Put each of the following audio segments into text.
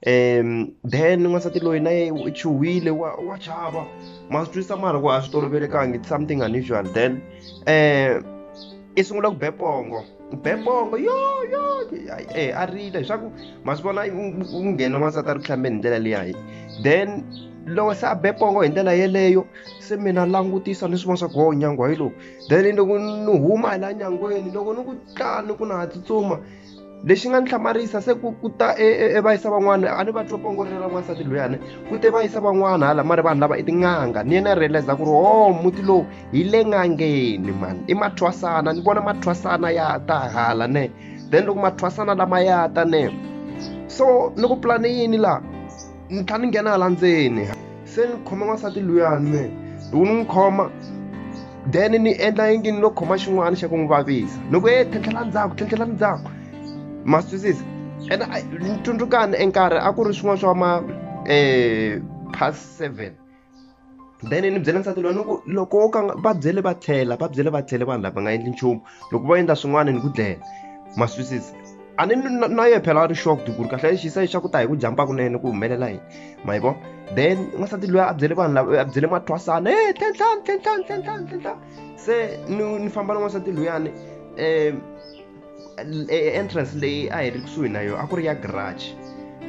um then n'wansati loyi na ye u chuhile wa wa chava ma swi twisa mara ku a swi tolovelekangi it's something unusual then um i sungula ku be pongo be pongo yo yo e a rila leswaku ma swi vona u nghena n'wansati a ri ku hlambeni hi ndlela leyayi then loko se a be pongo hi ndlela yeleyo se mina langutisa ni swi vona swa ku ho nyangwa hi lowu then loko ni huma hi la nyangweni loko ni ku tlani ku na ha tsutsuma lexi nga ni hlamarisa se ku ku ta evayisa e, e van'wana a ni va twa pongorela n'wansati loyani ku te va yisa van'wana hala mari vanhu lava i tin'anga ni yena realize ku ri o oh, muti lowu hi le n'angeni mani i mathwasana ni vona mathwasana ya ta hala ne then loko mathwasana lama ya ta ne so ni ku pulani yini laha ni tlha ni nghena hala ndzeni se ni khome n'wansati luyani me loko ni n'wi khoma then ni endla yingi ni lo khoma xin'wana xa ku n'wi vavisa loko e tlhentlhela ndzhaku tlhentlhela ndzhaku ma swi twisisa ene ni tsundzukani enkarhi a ku ri swin'wana swa ma um past seven then ni byela nsati loyi ni ku loko wo ka va byele va tlhela va byele va tlhele vanhu lava nga endli nchumu loko va endla swin'wana ni ku dlela maswisisi a ni na ye phela a ri shocked ku ri kahle lexi se xa ku ta hi ku jampa kunene ku humelela yini ma yi vona then n'wansati loyi a byele vanhu lava a byele mathwasana e tlhentlhani tlhentlhani tlhentlhani tlhentlhani se ni ni famba na n'wansati loyani um e, e, entrance leyi a hi ri kusuhi na yona a ku ri ya garage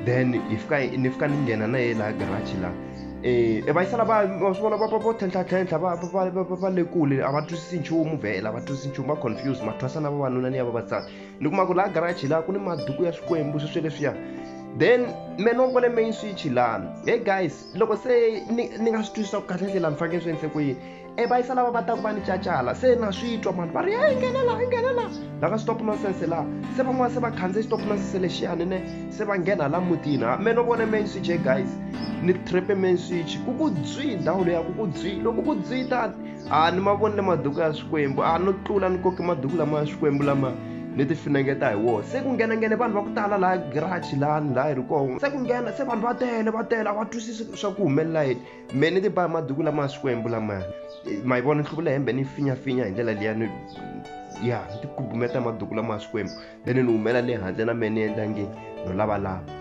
then hi fika ni fika ni nghena na ye laha garage laha eh, e va yisala va va swi vona va va vo tlhentlhatlhentlha va va va va le kule a va twisisi nchumu vhela va twisisi nchumu va confuse mathwasa na vavanuna ni ya vavasati ni kuma ku laha garage laha ku ni maduku ya swikwembu sweswi leswiya then me no vona main switch laha hey guys loko se ni ni nga swi twisisa ku kahle ndlela ni fanekele swi endle ku yini e va yisa lava va ta ku va ni cacala se na swi twa mani va ri a yi nghena laha yi nghena laha laha ka stop nonsense laha se van'wana se va khandziye stop nonsense lexiyani ne se va nghena laha mutini ha me no vone main switch e guys ni trepe main switch ku ku dzwi ndhawu leya ku ku dzwi loko ku dzwi ta a ni ma vonile maduku ya swikwembu a no tlula ni koke maduku lama ya swikwembu lama ni ti finengeta hi wona se ku nghenanghene vanhu va ku tala laha garage lani laha hi ri kona se ku nghena se vanhu va tele va tele a va twisisi swa ku humelela yini me ni tiba maduku lama swikwembu lamaya ma yi vona ni hluvula hembe ni finyafinya hi ndlela liya ni ya ni tikubumeta maduku lama swikwembu then ni humela le handle na me ni endla nge no lavalava